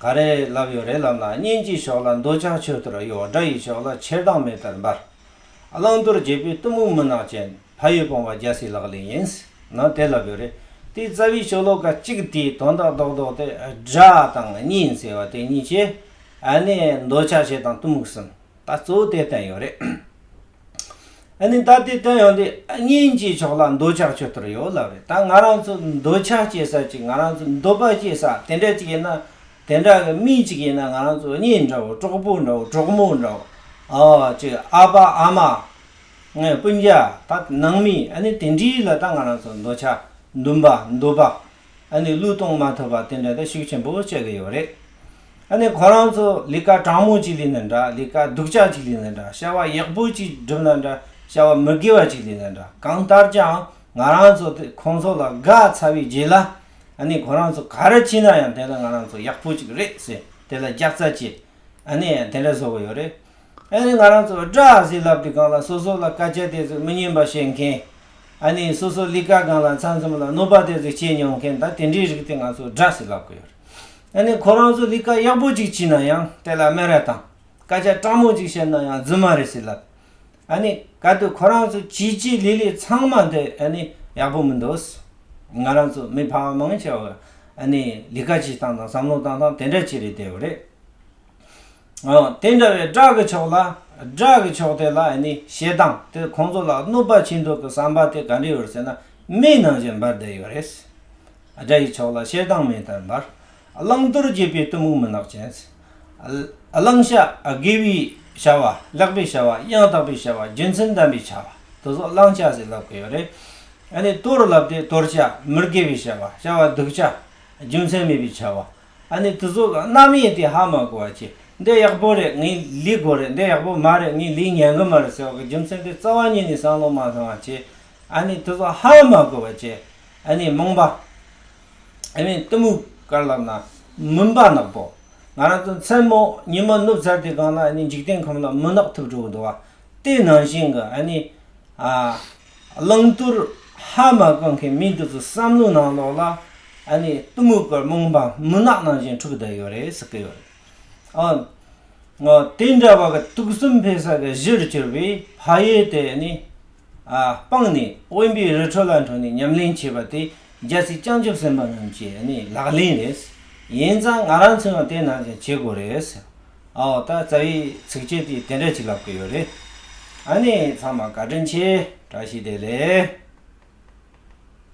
ག་རེ་ལབ་ཡོད་རེད་ལབ་ན་གཉེན་གྱི་ཕྱོགས་ལ་འདོད་ཆགས་ཆོད་དུ་ར་གཡོ་དགྲ་ཡི་ཕྱོགས་ལ་ཆེར་སྡང་མེ་ལྟར་འབར། བླང་དོར་འབྱེད་པོའི་གཏི་མུག་མུན་ནག་ཅན་ཕ་ཡུལ་སྤོང་བ་རྒྱལ་སྲིད་ལག་ལེན་ཡིན་ན་དེ་ལབ་ཡོད་རེད་དེའི་རྩ་བའི་ཆོ་ལོ་ཀ་གཅིག་དེའི་དོན་དག་རྡོག་རྡོག་སྟེ་དགྲ་དང་གཉེན་ཟེར་བ་དེ་གཉིས་ཀྱི་ཨ་ནེ་འདོད་ཆགས་ཆེ་དང་གཏི་མུག་གསུམ་ད་གཙོ་བོ་དེ་བསྟན་ཡོད་རེད། ནི་ད་ལྟའི་བསྟན་ཡོང་དུས་དངན་ཅིག་ཕྱོགས་ལ་འདོད་ཆགས་ཆོད་དོར་ཡོད་ལབ་རེད་ད་ང་རང་ཚོ་འདོད་ཆགས་སྐྱེ་ས་ཅིག་ང་རང་ཚོ་འདོད་པ་སྐྱེ་ས་དེ་འདྲ་ཅིག་ཡིན་ན་དེ་འདྲ་གི་མི་ཅིག་ཡིན་ན་ང་རང་ཚོ་གཉིས་འདྲ་བོ་གྲོགས་པོ་འདྲ་བོ་གྲོགས་མོ་འདྲ་བོ་ཅིག་ཨ་ཕ་ཨ་མ་སྤུན་རྒྱ་ད་ནང་མི་ཨ་ནི་དེ་འདྲིའི་ལ་ད་ང་རང་ཚོ་འདོད་ཆགས་འདུན་པ་འདོད་པ་ཨ་ནི་བློས་གཏོང་མ་ཐུབ་པ་དེ་འདྲ་དང་ཤུགས་ཆེན་པོ་བསྐྱེད་ཀྱི་ཡོད་རེད། ཨ་ནི་ཁོ་རང་ཚོ་ལས་ཀ་གྲང་མོ་ཅིག་ལས་ན་འདྲ་ལས་ཀ་སྡུག་ཅག་ཅིག་ལས་ན་འདྲ་བྱ་བ་ཡག་པོ་ཅིག་སྒྲུབ་ན་འདྲ་བྱ་བ་མི་དགེ་བ་ཅིག་ལས་ན་འདྲ་གང་ལྟར་ཀྱང་ང་རང་ཚོ་དེ་ཁོང་ཚོ་ལ་དགའ་ཚར་བའི་རྗེས་ལ་ཨ་ནི་ཁོ་རང་ཚོ་ག་རེ་བྱས་ན་ཡང་དེ་ནི་ང་རང་ཚོ་ཡག་པོ་ཅིག་རེད་ཟེར་དེ་ལ་རྒྱག་རྩ་བྱེད་ཨ་ནི་ཡང་དེ་འདྲ་བཟོ་གི་ཡོད་རེད། ཨ་ནི་ང་རང་ཚོ་བཀྲ་ཟིས་ལབ་ཏི་སྒང་ལ་སོ་སོ་ལ་དཀའ་སྤྱད་དེ་ཚོ་མི་སྙན་པ་བཤད་མཁན། ཨ་ནི་སོ་སོ་ལི་ཀ་སྒང་ལ་མཚང་འཛོམས་ལ་གནོད་པ་དེ་ཚོ་བྱེད་མྱོང་མཁན་ད་དེ་འདྲའི་རིགས་དེ་ང་ཚོ་བཀྲ་ཟིས་ལབ་གི་ཡོད་རེད། ཨ་ནི་ཁོ་རང་ཚོ་ལི་ཀ་ཡག་པོ་ཅིག་བྱིན་ན་ཡང་དེ་ལ་སྨད་ར་དང་དཀའ་སྤྱད་སྤྲང་མོ་ཅིག་བྱེད་ན་ཡང་རྫུན་མ་རེད་ཟིས་ལབ། ཨ་ནི་ག་དུས་ཁོ་རང་ཚོ་བྱིས་བྱིས་ལི་ལི་ཚང་མ་དེ་ཨ་ནི་ཡག་པོ་མི་འདུག་ང་རང་ཚོ་མི་ཕ་མ་མང་ཆེ་བ་ཨ་ནི་ལི་ཀ་བྱེད་སྟངས་དང་བསམ་བློ་བཏང་སྟངས་དེ་འདྲ་ཅིག་རེད་བསྡད་ཡོད་རེད། དེ་འདྲ་བའི་དགྲ་གི་ཕྱོགས་ལ་དགྲ་གི་ཕྱོགས་དེ་ལ་ནི་ཞེ་སྡང་དེ་ཁོང་ཚོ་ལ་གནོད་པ་བྱིན་འགྲོ་གི་བསམ་པ་དེ་ག་འདྲི་ཡོད་ཟེར་ན་མིའི་ནང་བཞིན་འབར་བསྡད་ཡོད་རེད། དགྲ་ཡི་ཕྱོགས་ལ་ཞེ་སྡང་མེ་ལྟར་འབར། བླང་དོར་རྒྱས་པའི་གཏི་མུག་མུན་ནག་ཅན། བླང་བྱ་དགེ་བའི་བྱ་བ་ལེགས་པའི་བྱ་བ་ཡང་དག་པའི་བྱ་བ་རྒྱུ་མཚན་ལྡན་པའི་བྱ་བ་དེ་ཚོ་བླང་བྱ་ཟེར་ལབ་གི་ཡོད་རེད། དོར་ལབ་དེ་དོར་བྱ་མི་དགེ་བའི་བྱ་བ་བྱ་བ་སྡུག་བྱ་རྒྱུ་མཚན་མེད་པའི་བྱ་བ་ཨ་ནི་དུ་ཟོ་གང་ནམ་ཡིན་དེ་ཧ་མ་གོ་བ་ཀྱེ། འདི་ཡག་པོ་རེད་ངའི་ལུས་སྒོ་རེད་འདི་ཡག་པོ་མ་རེད་ངའི་ལུས་ཉལ་གི་མ་རེད་ཟེར་བ་གི་རྒྱུ་མཚན་དེ་རྩ་བ་ཉིད་ནས་སང་ལོ་མ་སླེང་བ་ཀྱེ། ཨ་ནི་དུ་ཟོ་ཧ་མ་གོ་བ་ཀྱེ། ཨ་ནི་རྨོངས་པ། ཨེ་མའི་གཏི་མུག་དཀར་ལབ་ན། མུན་པ་ནག་པོ། ང་རང་ཚོ་མཚན་མོ་ཉི་མ་ནུབ་ཚར་དུས་གང་ན་ཨ་ནི་འཇིག་རྟེན་ཁམས་ལ་མུན་ནག་ཐུབ་འགྲོ་གི་འདུག་བ། དེའི་ནང་བཞིན་གི་ཨ་ནི། ཨ། བླང་དོར་ཧ་མ་གོ་མཁན་མི་འདི་ཚོ་བསམ་བློ་ནང་ལོག་ལ་ཨ་ནི་གཏི་མུག་གི་རྨོངས་པ་མུན་ནག་ནང་བཞིན་འཁྲུགས་བསྡད་ཡོད་རེད་ཟེར་གི་ཡོད་རེད་ཨ། ངོ་དེ་འདྲ་བ་གི་དུག་གསུམ་འཕེལ་ས་གི་གཞིར་གྱུར་པའི་ཕ་ཡུལ་དེ་ནི་ཨ་སྤངས་ནས་དབེན་པའི་རི་ཁྲོད་ལ་འཁྲུངས་ནས་ཉམས་ལེན་བྱས་པ་དེ་རྒྱལ་སྲིད་བསྐྱངས་རྒྱུ་སེམས་པ་རྣམས་ཀྱི་ཨ་ནི་ལག་ལེན་རེད། ཡིན་ཙང་ང་རང་ཚོའང་དེ་ནང་བཞིན་བྱེད་དགོས་རེད་ཟེར། ཨའོ་ད་རྩ་བའི་ཚིགས་བཅད་འདི་དེ་འདྲ་ཅིག་ལབ་ཀི་ཡོད་རེད། ཨ་ནི་ཚང་མ་བཀའ་དྲིན་ཆེ་བཀྲ་ཤིས་བདེ་ལེགས།